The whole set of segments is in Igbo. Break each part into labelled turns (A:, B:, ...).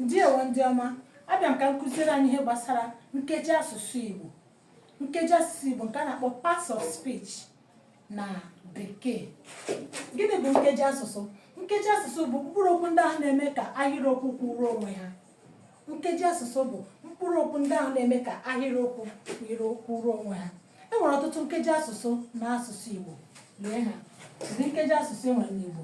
A: ndewo ndị ọma abịa m ka m kụziere anyị ihe gbasara nkeji asụsụ Igbo nkeji asụsụ Igbo nke a na-akpọ parts of speech na bekee gịnị bụ nkeji asụsụ nkeji asụsụ bụ mkpụrụ okwu ndị ahụ na-eme ka ahịrịokwu kwụrụ onwe ha nkeji asụsụ bụ mkpụrụ okwu ndị ahụ na-eme ka ahịrịokwu kwụrụ kwụrụ onwe ha e nwere ọtụtụ nkeji asụsụ na asụsụ Igbo lee ha ụdị nkeji asụsụ e nwere n'Igbo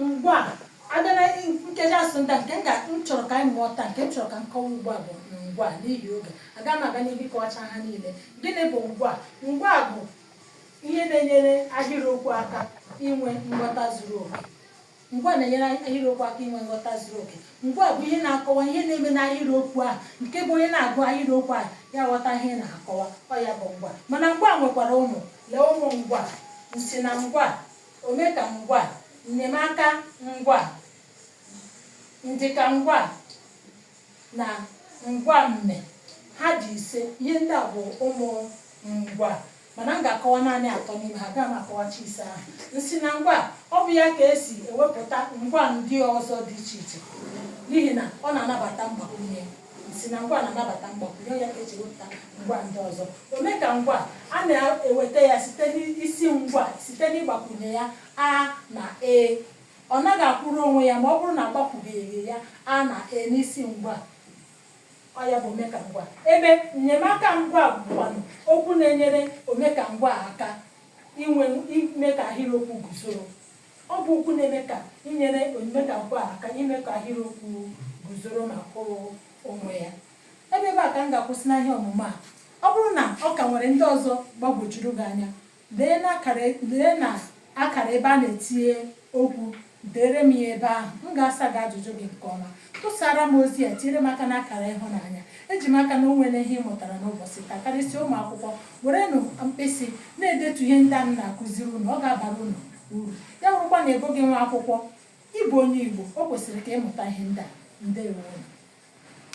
A: ngwa abịa na nkeji asụsụ ndị a nke m ga m chọrọ ka anyị mụọ taa nke m chọrọ ka m kọwa ugbu a bụ ngwa n'ihi oge aga m aga n'ihu ịkọwacha ha niile gịnị bụ ngwa ngwa bụ ihe na-enyere ahịrịokwu aka inwe nghọta zuru oke ngwa na-enyere ahịrịokwu aka inwe nghọta zuru oke Ngwaa bụ ihe na-akọwa ihe na-eme n'ahịrịokwu ahụ nke bụ onye na-agụ ahịrịokwu ahụ ya aghọta ihe ị na-akọwa. Ọ ya bụ ngwaa. Mana ngwaa nwekwara ụmụ. Lee ụmụ ngwaa. Nsi na ngwaa. Omeka ngwaa. Nnyemaka ngwaa. Ndịka ngwaa. Na ngwaa mme. Ha dị ise. Ihe ndị a bụ ụmụ ngwaa. mana m ga-akọwa naanị atọ n'ime ha agaghị m akọwacha ise ahụ nsi na ngwa ọ bụ ya ka e si ewepụta ngwa ndị ọzọ dị iche iche n'ihi na ọ na-anabata mgbakwunye nsi na ngwa na-anabata mgbakwunye ya ka e ji ewepụta ngwa ndị ọzọ omeka ngwa a na-eweta ya site n'isi ngwa site n'ịgbakwunye ya a na e ọ naghị akwụrụ onwe ya ma ọ bụrụ na agbakwubeghị ya a na e n'isi ngwa Ọ ya bụ omekangwa. Ebe nnyemaka ngwa bụkwanụ okwu na-enyere omekangwa aka inwe ime ka ahịrịokwu guzoro. Ọ bụ okwu na-eme ka inyere omekangwa aka ime ka ahịrịokwu guzoro ma kwụrụ onwe ya. Ebe ebe a ka m ga-akwụsị na ihe ọmụmụ a. Ọ bụrụ na ọ ka nwere ndị ọzọ gbagwojuru gị anya, Lee na akara ebe a na-etinye okwu, deere m ya ebe ahụ. M ga-asa gị ajụjụ gị nke ọma. Tụsara m ozi a, tinyere m aka n'akara ịhụnanya. Eji m aka na o nwere ihe ị mụtara n'ụbọchị taa. Karịsịa ụmụ akwụkwọ, werenụ mkpịsị na-edetu ihe ndị a m na-akụziri unu. Ọ ga-abara unu uru. Ya bụrụkwa na ị bụghị nwa akwụkwọ, ị bụ onye Igbo, o kwesịrị ka ị mụta ihe ndị a. Ndewo.